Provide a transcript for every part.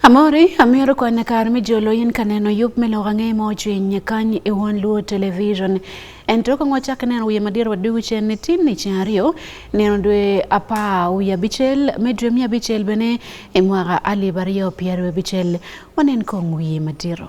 Amore amiyoro kwana kar mi jolo yin kaneno yup me loga nge mo chwe nyakan e won luo television en to kong wachak neno wiye madier wadugu chen ne tin ni chen ariyo neno dwe apa wiye abichel me dwe miya abichel bene e mwaka alib ariyo piero abichel wanen kong wiye madiero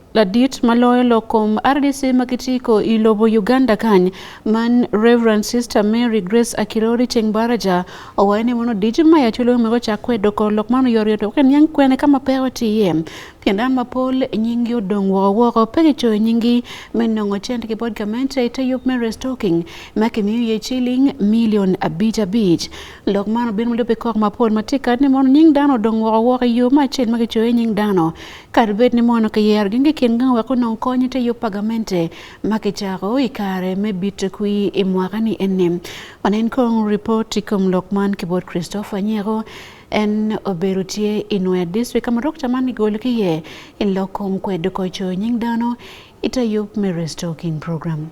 Ladit maloyo lokom RDC makitiko ilobo Uganda kany man Reverend Sister Mary Grace Akirori Chengbaraja owaye ni mono diji ma yachulo mego chakwe doko lok mano yori to ken yang kwene kama pewa tiye kendo an mapol nyingi odong' woko woko pe gicoyo nyingi me nongo cent ki bod gamente ite yup me restocking ma kimiyo ye ciling milion abic abic lok man obino mulupe kok mapol matika ni mono nying dano odong' woko woko i yo ma acel ma gicoyo nying dano Kar bed ni mono kiyer gi ngikin nga weko non konyi te yup pagamente ma kichako i kare me bit kwi i mwaka ni eni. Wanen kong report i kom lok man ki bot Christopher Nyeko en obedo tye i Nue district kama dokta man gigolo ki ye i lok kom kwedo koco nying dano i te yup me restoking program.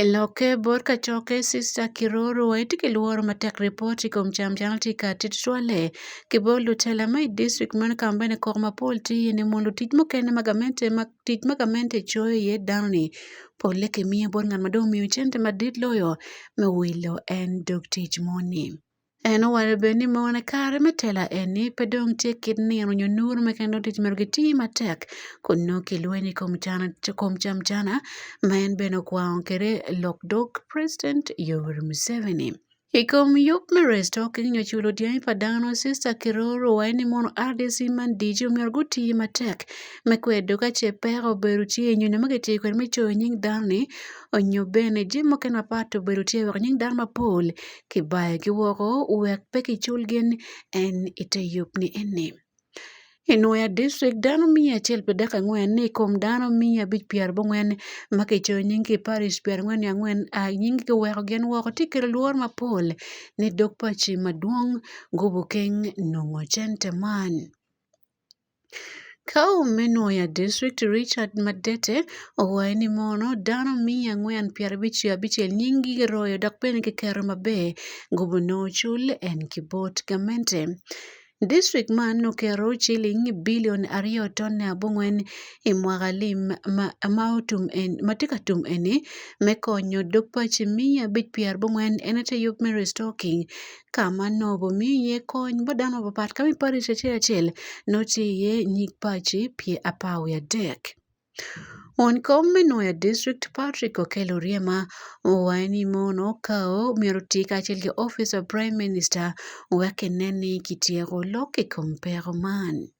Eloke bor kachoke sister kiroro waiti kiluoro matek ripoti kom cham chal tika titwale kibolo tela mai district man kamba ne kok mapol tiye ne mondo tij mokene magamente ma tij magamente choyo ye dani pole kimiye bor ng'at madong miyo chente madit loyo mewilo en dog tich moni. Eno wano bed ni mon kare me tela eni pe dong tye kit nino nyo nur ma kendo tic mere giti matek kun nongo kilweny i kom cana kom cam cana ma en bene okwango kede lok dog president Yoweri Museveni. I kom yub me resto ki nyo culo dyangi pa dano sista kiroro waye ni mono RDC man dijo myero guti matek me kwedo ka ce peko obedo tye nyo nyo ma kitiyo kwede me coyo nying dano-ni onyo bene jami mukene mapat obedo tye wek nying dano mapol kibayogi woko wek pe kicul gin en ite yub ni eni. I Nwoya District, dano miya acel pi dek angwen ni i kom dano miya abic pyera abongwen ma kicoyo nying ki i parish pyera angwen ni angwen a nying kiweko gin woko tye kelo lworo mapol ni dog paci madwong Gubukeng nongo cente man. Ka Omenwoya District, Richard Madete owaye ni mono dano miya angwen piero abich ki abichel nying gi giroyo dok bene ki keto maber gubene ocul en ki bot gamente. District man oketo ciling billion aryo tone abongwen i mwaka lim ma tye ka tum eni me konyo dog paci miya abic pyera bongwen en aye yub me restocking Ka mano bomiye kony bo dano mapapat ka miparo ic achiel achiel notiye nyig paci pye apar wiye adek. Won kom me Nwoya District Patrick Okello Oryema owaye ni mon okawo myero oti kacel ki office of Prime Minister wek kine ni kityeko lok i kom peko man.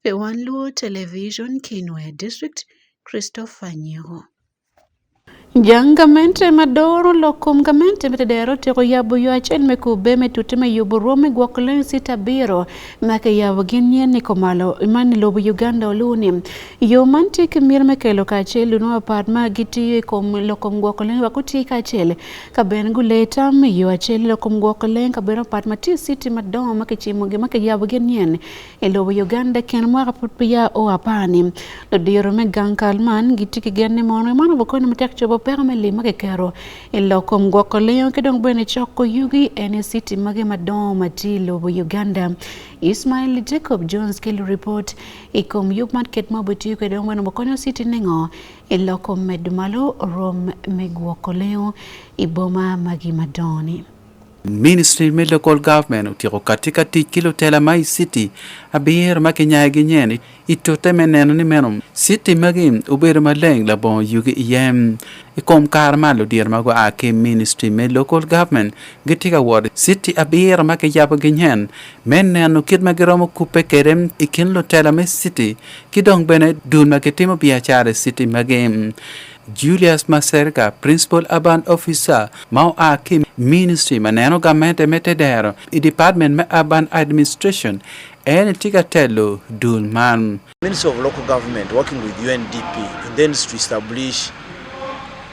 Be wan Luo Television Kinwe District Christopher Nyiho. Jangamente madoro loko ngamente metedero teko yabo yo achiel me kube me tute me yubo rome gwok len sita biro make yabo gin nyen ni komalo man lobo Uganda oluni yo man tik mir me kelo ka achiel luno apart ma gitiyo e kom loko gwok len wako ti ka achiel ka ben gule tam yo achiel loko gwok len ka ben apart ma ti siti madongo make chimo gi make yabo gin nyen I lobo Uganda kin mwaka pud peya o apani, ludiro me gang kal man gitye ki gen ni mono man obokonyo matek cobo peko me lim ma kiketo i lok kom gwoko lengo ki dong bene coko yugi ene citi magi madongo ma tye i lobo Uganda. Ismail Jacob Jones ki luripot i kom yub man ket ma obitiyo kwede dong bene obokonyo citi ningo i lok kom medo malo rom me gwoko lengo i boma magi madongo ni. Ministry me Local Government otyeko kati ka tic ki lutela ma i city abiro ma kinyayo gi nyen i tute me neno ni meno city magi obedo maleng labongo yugi iye i kom kare ma ludiro ma gua ki Ministry me Local Government gitye ka wot city abiro ma kiyabo gi nyen me neno kit ma giromo kupe kede i kin lutela me city ki dong bene dul ma kitimo biacara i city magi Julius Maserga, Principal Urban Officer ma oa ki Ministry ma neno gamente me tedero i Department me Urban Administration en tye ka telo dul man. Ministry of Local Government working with UNDP in the industry establish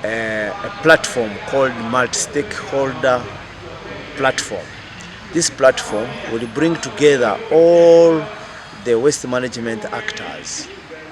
a, eh, a platform called multi-stakeholder platform. This platform will bring together all the waste management actors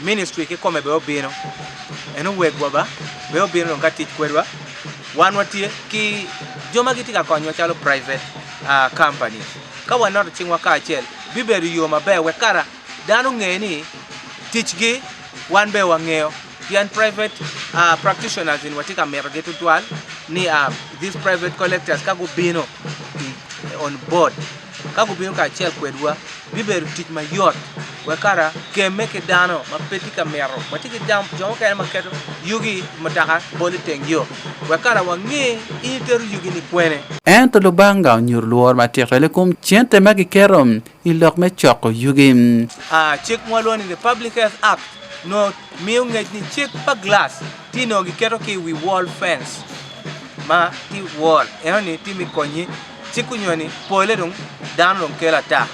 Ministry kikome be obino. En owegwa ba be obino ka tich kwedwa. Wan watie ki joma gitika konywa chalo private uh, company. Ka wanoto chingwa ka achiel bibedo yo maber we kara dano ng'e ni tichgi wan be wang'eyo yan private uh, practitioners in watika mero gi tutwal ni uh, these private collectors ka gubino on board ka gubino kacel kwedwa bibedo tic mayot wek kara kemme ki dano ma pe tye ka mito watye ki jam jo mukene ma keto yugi mutoka bolo i teng yo wek kara wange in itero yugi ni kwene Ento Lubanga onyuto lworo matek twal i kom cente ma giketo i lok me coko yugi. Ah, cik ma walwongo ni the Public Health Act no miyo ngec ni cik pa glass ti no giketo ki i wi wall fence ma ti wall eno ni ti mi konyi cik onyo ni pole dong dano dong kelo ata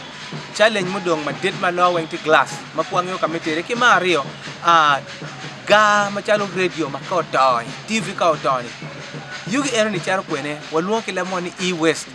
challenge mudong madit ma lo weng ti glass ma kwangeyo ka me tere ki ma aryo ah, gaa macalo radio ma ka otony tv ka otony yugi eno ni caro kwene walwongo ki lamon ni e-waste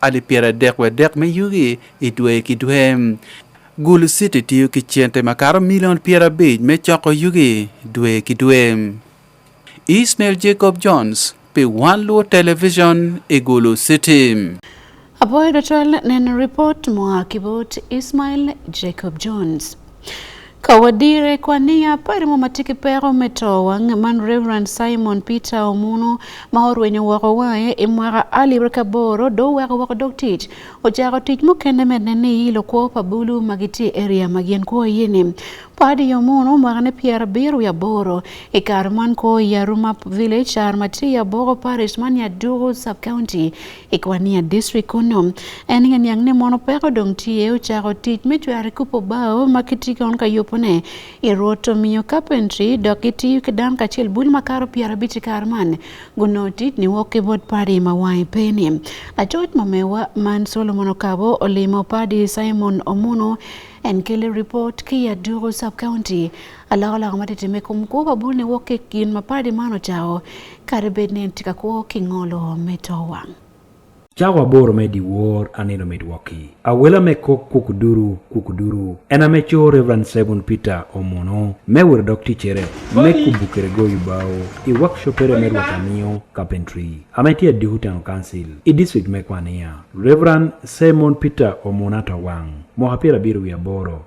Alip pyerardek wadek me yugi i dwe ki dwe. Gulu City tiyo ki cente makato milion pyerabic me coko yugi dwe ki dwe. Ismail Jacob Jones pi One Luo Television i Gulu City. Apoyo dotol neno report moa ki bot Ismail Jacob Jones. Ka wadire kwa niya pari mo matiki peko me towa man Reverend Simon Peter Omuno ma orwenyo woko wae i mwaka alip rika boro do weko woko dog tic ocako tic mukene med ne ni lokwo pa bulu ma giti area ma gin kwo yini padi Omuno mwaka ne pier abiro ya boro i kar man kwo ya Rumap Village ar mati ya boko parish man ya Dugu sub county Ikwania district kuno en ng'e niang' ni mono peko dong tiye ochako tic me cwero kupo bao ma kiti kon ka yupone i rwoto miyo carpentry dok giti ki dan kacel bul ma karo pyera bici kar man guno tic ni wok ki bot padi ma wangi peni lacoc mamewa man solomon okabo olimo padi simon omuno en kele report ki ya dugo sub county aloko loko matitime kum kuo kabul ni wok ki kin ma padi man ocawo Kare bed ni en tika kwo king'olo mit owang'. Chawa bor me di wor anino mit waki. Awela me kok kukuduru kukuduru. En ame cho Reverend Simon Peter Omono me wero dok tichere me kubukere go yubao i workshop ere me rwata miyo carpentry. Ame tiya dihu town council i district me kwania. Reverend Simon Peter Omono atawang'. Mohapira biro wi aboro.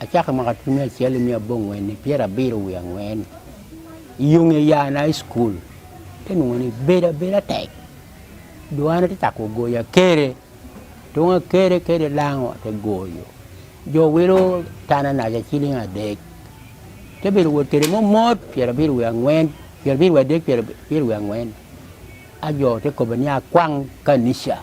Achako mwaka aluf mia achiel mia abong'wen ni piero abiro wi ang'wen yung e yan high school tenung'o ni beda beda tek dwana ti tako goyo akere tung akere kere lango te goyo jo wilo tana naja ciling adek te bedo wot kede mo mot piero abiro wi ang'wen piero abiro wi adek piero abiro wi ang'wen ajo te kobe ni akwang kanisa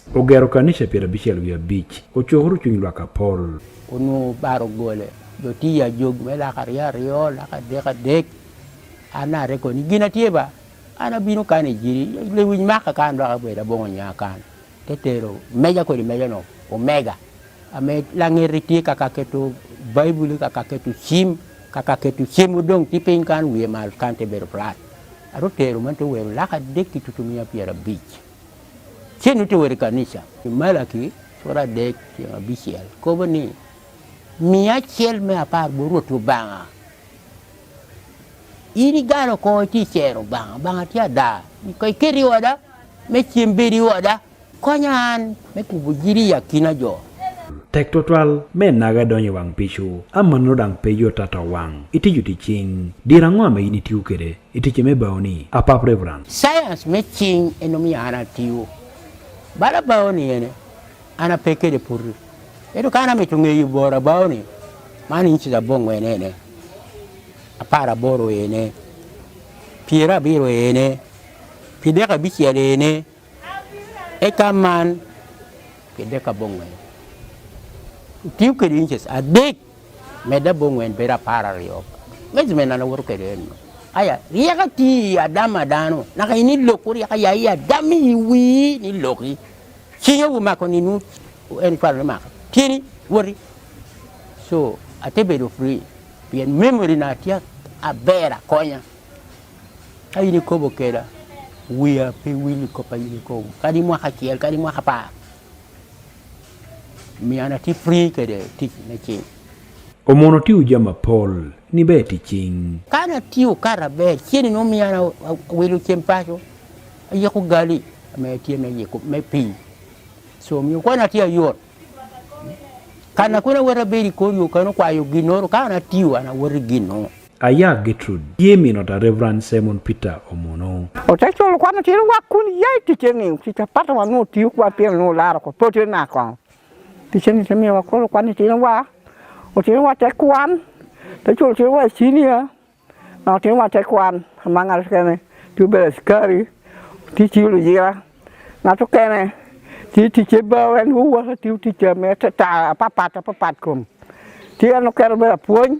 Ogero kanisha piero abichiel wi abich. Ochuohuru chuny lwak apol. Onwongo baro gole. Jotiya jog me lak ariyo ariyo, lak adek adek. An are koni, gin atye ba. An abino kan i jiri, lewiny maka kan dok abed abongo nya kan. Te tero, meja kodi meja no, omega. Ame langeri tye kaka keto Baibuli, kaka keto cim, kaka keto cim udong ti piny kan wiye mal kan te bedo plat. Aro tero man te wero lak adek ki tutumiya piero abic. Chieng' to wer kanisa. Malaki sura adek tieng' abichiel kobo ni miya achiel me apar bo Ruoth Obanga. In igalo kore ti chero Obanga, Obanga ti ada. Ka ikeri oda, me chiemb beri oda. Konya an me kubo jiri yakina jo. Tek total me naga donyo wang pichu ama no dang pejo tata wang itiju ti ching dira ngwa ma ini tiu kede Itiche me bao ni apap reverend. Science me ching eno mi ana tiwo. Bala bao ni ene ana peke de purri. Edo kana me tunge yu bora bao ni mani inchi da bongo ene ene. Apara boro ene. Pira biro ene. Pideka bichi ya ene. Eka man pideka bongo ene. Tiyo kedi inches adek Meda bongo en bera para riyo. Mezi mena na wuru kereno. Aya, riya ka ti ya dama dano. Naka ini loku riya ka ya ya dami wi ni loki. Sinyo wu mako ni nu en kwa ni mako. Tini wuri. So, ate bedo free. Pien memory na tia a bera konya. Ka ini kobo kera. Wia pe wili kopa ini kobo. Kadi mwaka kiel, kadi mwaka pa. Miana ti free kede tic me cing. Omono ti uja mapol ni be ti cing. Kana ti ukara be chini no miana wilu chem pacho. Ayeko gali me ti me yeko me pi. So mi kwana ti ayor. Kana kuna wera beri koyo kana kwa yo ginoro kana ti wana wera ginoro. Aya Gertrude Jimmy nota Reverend Simon Peter Omono. Otechulo kwano tiri wa kun yai ticheni kita pata wa no tiu kwa pia no lara ko pote na kwa. Ticheni temi wa kolo kwani tiri wa otiri wa tekwan techulo tiri wa senior na otiri wa tekwan manga skene tu bela skari tichilo jira na to kene ti tiche ba wen huwa ti tiche me ta papa ta papa kom. Ti ano kero bela puonj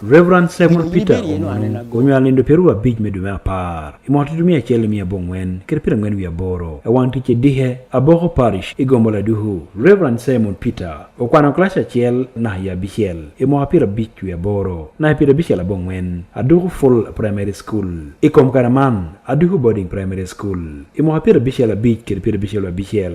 Reverend Samuel Peter Omunu onyuol lendo piero abich me dwe me apar i mwaka tutu mia acel mia abong'wen kede piero ang'wen wiye aboro e wang tic edihe Aboko Parish i Gombo Laduhu. Reverend Simon Peter okwano kilac acel naka i abicel i mwaka piero abic wiye aboro naka piero abicel abong'wen aduku Full Primary School. I kom kare man aduku Boarding Primary School i mwaka piero abicel abic kede piero abicel wiye abicel.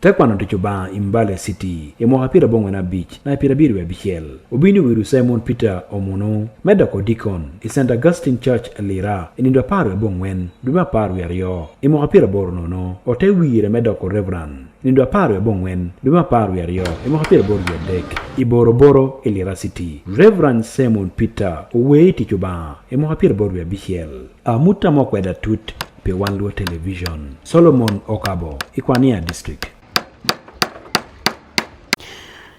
Te kwano tic Obanga i Mbale City i mwaka pyera bongwen abic na pyera biri wiye abicel. Obini wiru Simon Peter Omunu me doko dikon i St. Augustine Church Lira i nindo apar wiye bongwen dwe me apar wiye aryo. I mwaka pyera boro nono ote wire me doko Reverend i nindo apar wiye bongwen dwe me apar wiye aryo i mwaka pyera boro wiye adek i Boro Boro i Lira City. Reverend Simon Peter owee tic Obanga i mwaka pyera boro wiye abicel. Amuta mo kweda tut Pe wan luo television. Solomon Okabo, Ikwania district.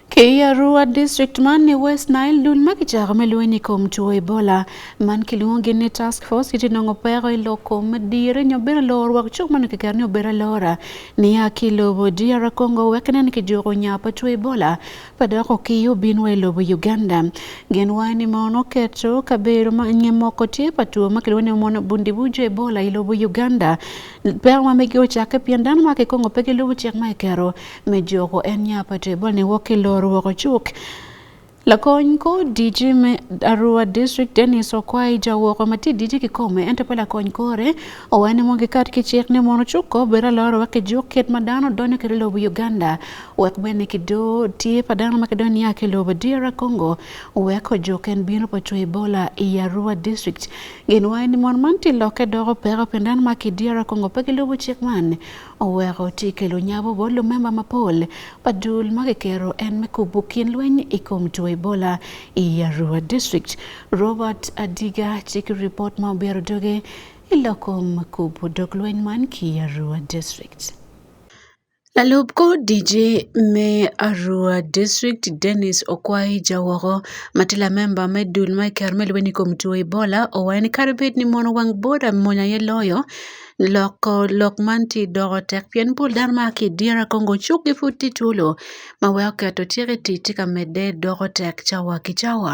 Kiarua district man ni West Nile dul ma kichako me lweny i kom tuo Ebola man kilwongo ni task force iti nongo peko i lok kom madire nyo bene lor wak cuk man kiker ni obedo alora niya ki lobo DR Congo wek nen kijuko nya pa tuo Ebola padoko kiyo binwa e lobo Uganda gen wani mono keto kabero ma nye moko tye pa two ma kilwongo ni mono bundi bujo ebola i lobo Uganda peko ma mege ocakke pien dano ma kikongo pe gilubo cik ma ikero me joko en nya pa two ebola ni wok kiloro wok ocuk Lakony kor DG me Arua District Dennis Okwai jawoko ma tye DG kikome ento pe lakony kore owaco ni mono gikat ki cik ni mono cuk ko bedo aloro wek kijuk kit ma dano donyo kwede i lobo Uganda wek bed ni kido tye pa dano ma kidong niya ki lobo DR Congo weko joken bino pa cwe Ebola i Arua district gin waye ni mon man tye lokke doko peko pien dano ma ki DR Congo pe gilubo cik man oweko tye kelo nyabo bot lumemba mapol pa dul ma kikero en me kubo kin lweny i kom two Ebola i Arua district Robert Adiga tye ki ripot ma obiro doge i lokom kubo dog lweny man ki Arua district. Jalup ODG me Arua District Dennis Okwai Jawoko ma tila a memba me dul ma iker me lweny kom two Ebola owayo ni kare bed ni mono wang boda mony aye loyo loko lok man tye doko tek pien pol dano ma a ki idyere kongo cuk gi pud tye twolo ma weko keto tyeko i tic tye ka medde doko tek cawa ki cawa.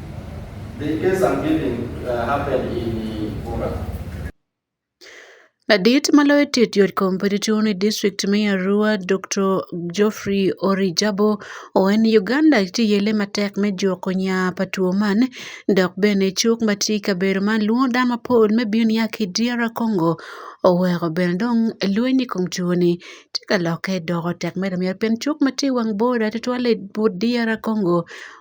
Ladit ma loyo tet yot Kompetitioni district me Arua Dokto Geoffrey Orijabo oen Uganda ti yele matek me juko nya pa two man dok bene cuk ma tye i kabedo man lwongo dano mapol me bino niya ki DR Congo oweko bene dong lweny i kom two ni tye ka lokke doko tek mere pien cuk ma tye i wang boda tutwalle but DR Congo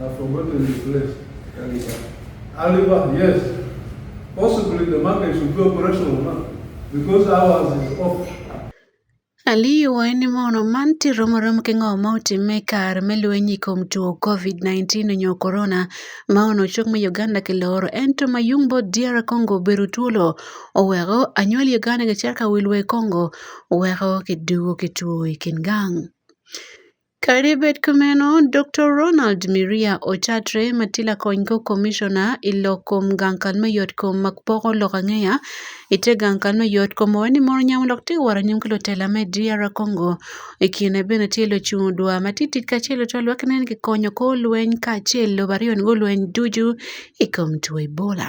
I've forgotten the place. Aliba. Aliba, yes. Possibly the market should be operational now because ours is off. Aliwa en mono man tiro morom ke ng'o ma otime kar me lwenyi kom tuo COVID-19 onyo korona ma ono chok me Uganda ke loro ento ma yung bo DR Congo beru tuolo oweko anyuol Uganda ke cer ka wilwe Congo oweko ke dugo ke tuo i kin gang. Kare bet kameno Doktor Ronald Miria Ochatre ma tye lakony ko komishona i lok kom gang kal me yot kom ma poko lok angeya i te gang kal me yot kom owaco ni mono onyamo lok tye woro anyim ki lutela me DR Congo i kine bene tye lucung odwa ma tit tit kacel lutwal wek nen ki konyo kor lweny kacel lobo aryo ni gulweny ducu i kom two Ebola.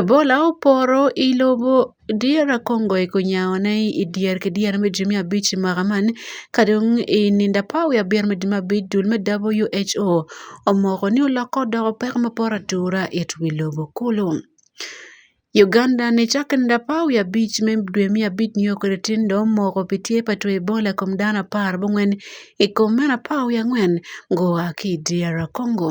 Ebola oporo i lobo dyere kongo eko onyango ne i dyer ki dyere me jami abic i mwaka man ka dong i nino apar wiye abiro me jami abic dul me WHO omoko ni olokke odoko peko ma poto atura it wi lobo kulu. Uganda ni cakke i nino apar wiye abic me dwe me abic nyo kwede tin dong omoko pi tye pa two Ebola i kom dano apar bongwen i kom meno apar wiye angwen gua ki i dyere kongo.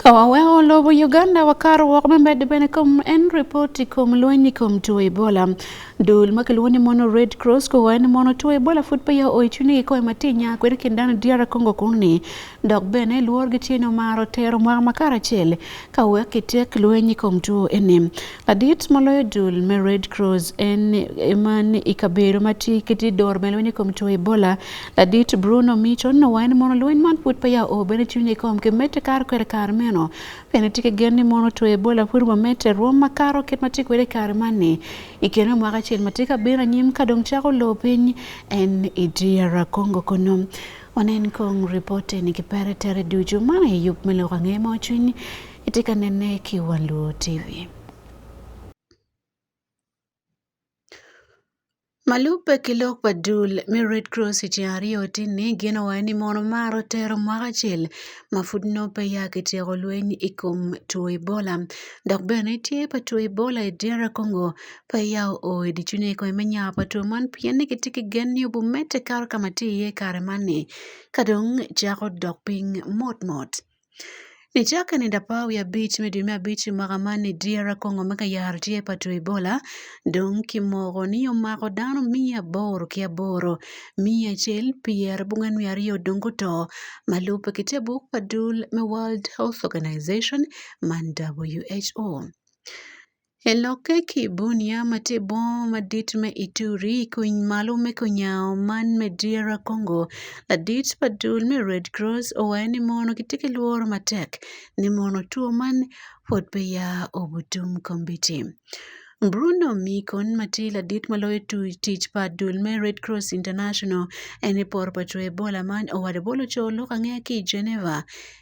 Kawawe olobo Uganda wakar wok memed bene kom en ripoti kom lweny kom tuo Ebola. Dul makiluwo ni mono Red Cross kowa ni mono tuo Ebola fut pa ya oichuni gi koe matinya kwere kindano diara Kongo kuni. Dok bene luor gi chino maro tero mwaka makara chele. Ka wek itiek lweny kom tuo ene. Ladit moloyo dul me Red Cross en eman ikabero mati kiti dor me lweny kom tuo Ebola. Ladit Bruno Mito no wain mono lweny man put pa ya o bene chunye kom ke mete kar kwer kar meno. Pene tike gen ni mono tuo Ebola pur ma mete ruom makaro ket mati kwere kar mani. Ikeno mwaka chil mati kabira nyim kadong chako lo piny en idiyara Kongo kono. Wanen kong ripote ni kipere tere duju mana e yup melo ka ng'e mo chwiny itika nene ki wan luo TV. Malupe ki lok pa dul me Red Cross i tyen aryo tye ni gin owaco ni mono mar otero mwaka acel ma pud nongo pe ya kityeko lweny i kom two Ebola dok bene tye pa two Ebola i DR Congo Pe ya oo i ducu ni kome me nya pa two man pien ni kitye ki gen ni obi medde kato ka ma tye iye i kare man ni ka dong cako dok piny mot mot. Nicakke ni dapar wiye abic me dwe me abic i mwaka man ni dyere kongo me ka yaro tye pa two Ebola dong ki moko ni omako dano miya aboro ki aboro miya acel pyera bungwen wiye aryo dong guto ma lube ki te buk pa dul me World Health Organization man WHO. E lokke ki bunia ma tye bongo madit me Ituri i kony malo me konyaw man me Dira Congo, ladit pa dul me Red Cross owayo ni mono gitye ki lworo matek ni mono two man pwod pe ya obutum kombiti. Bruno Mikon ma tye ladit ma loyo tic pa dul me Red Cross International en ni poro pa two Ebola man owado bolo co lok ange ki i Geneva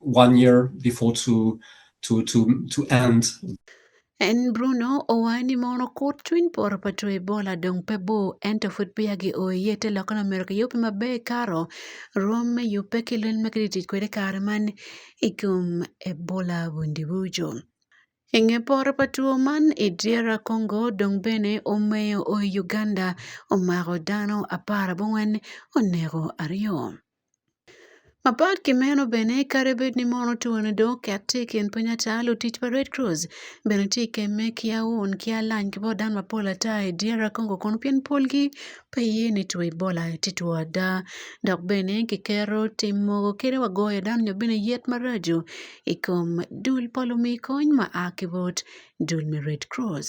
one year before to to to to end. En Bruno owani mono kut cwiny poro pa two Ebola dong pe bor ento pud peya gioye te loka Lamerika yubbe maber karo rwom me yubbe ki lweny ma kitye tic kwede kare man i kom Ebola Bundibugyo. I nge poro pa two man i DR Congo dong bene omeyo o i Uganda omako dano apar abongwen oneko aryo. Apart ki meno bene kadi bed ni mon otwene do oket tye i kin pwony ata, lutic pa Red Cross bene tye ka kemme ki aun ki alany ki bot dano mapol ata i dyere Congo kunu pien polgi pe ye ni two Ebola tye two ada dok bene ki keto tim mogo kadi wa goyo dano nyo bene yet maraco i kom dul pa lumiyo kony ma a ki bot dul me Red Cross.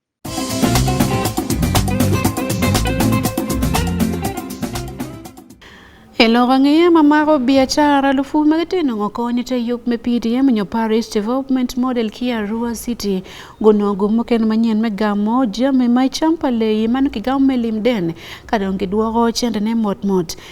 E loko angeye ma mako biacara lufu ma gitino ngo konyo te yub me PDM nyo Paris Development Model ki Arua City guno gumo ken manyen me gamo jami ma champa leyi man ki gamo me limden ka dong gidwoko cente ne mot mot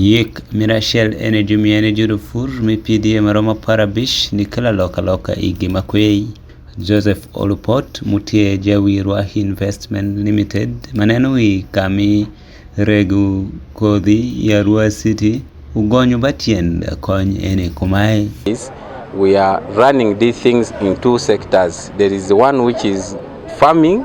Yiik mira achiel en e jumi en e judo fur mi pidi e maromo apar abich ni kila loka loka igi makwei. Joseph Olupot mutie jawi Rwahi Investment Limited maneno wi kami regu kodhi ya Rua City ugonyu batien kony ene kumae. We are running these things in two sectors. There is one which is farming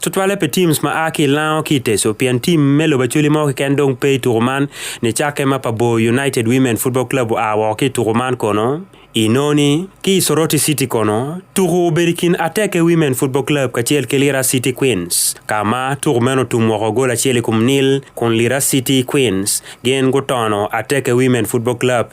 Tutwalle pi teams ma a ki Lango ki Teso pien tim me lobo acholi mo keken dong pe i tuko man ni cakke ma pa Bo United Women Football Club oa woko ki i tuko man kono Inoni ki Soroti City kono tuku obedo kin Ateke Women Football Club kacel ki Lira City Queens ka ma tuku meno tum woko gol acel i kom nil kun Lira City Queens gin gutono Ateke Women Football Club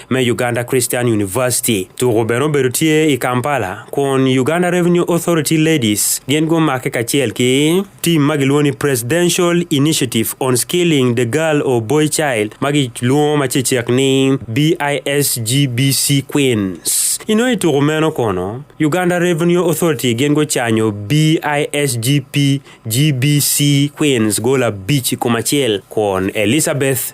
me Uganda Christian University. Tuko bene obedo tye i Kampala kun Uganda Revenue Authority Ladies gin gumake kacel ki tim ma gilwongo ni Presidential Initiative on Skilling the Girl or Boy Child ma gilwongo ma cecek ni BISGBC Queens. Ino i tuko meno kono, Uganda Revenue Authority gin gucanyo BISGP GBC Queens gola bic i kom acel kun Elizabeth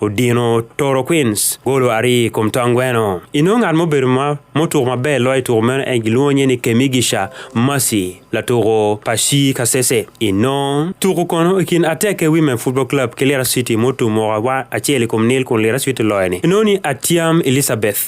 Odino Toro Queens golo ari i kom tong gweno. Inongo ngat mubedo ma mutuko maber loyo i tuko meno en gilwongo nye ni Kemigisha Mercy latuko pa Shi Kasese. Inongo tuko kono i kin Ateke Women Football Club ki Lira City mutum woko acel i kom nil kun Lira City loyo ni. Inongo ni Atiam Elizabeth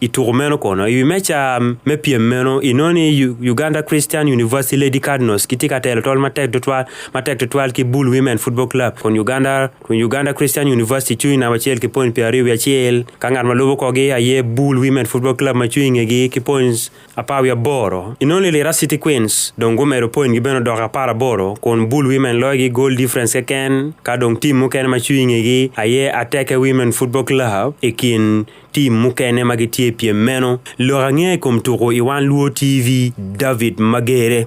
i tuko meno kono i wi meca me pyem meno i nongo ni U- uganda christian university lady cardinals kitye ka telo tol matek tutwal matek tutwal ki bull women football club kun uganda kun uganda christian university cung i namba acel ki points pyero aryo wiye acel ka ngat ma lubo kogi aye bull women football club ma cung i ngegi ki points apar wiye aboro i nongo ni lira city queens dong gumedo point gi bene odoko apar aboro kun bull women loyo gi goal difference keken ka dong tim mukene ma cung i ngegi aye ateke women football club i kin Tim mukene ma gitye i pyem meno, lok ange i kom tuko i Wan Luo TV, David Magere.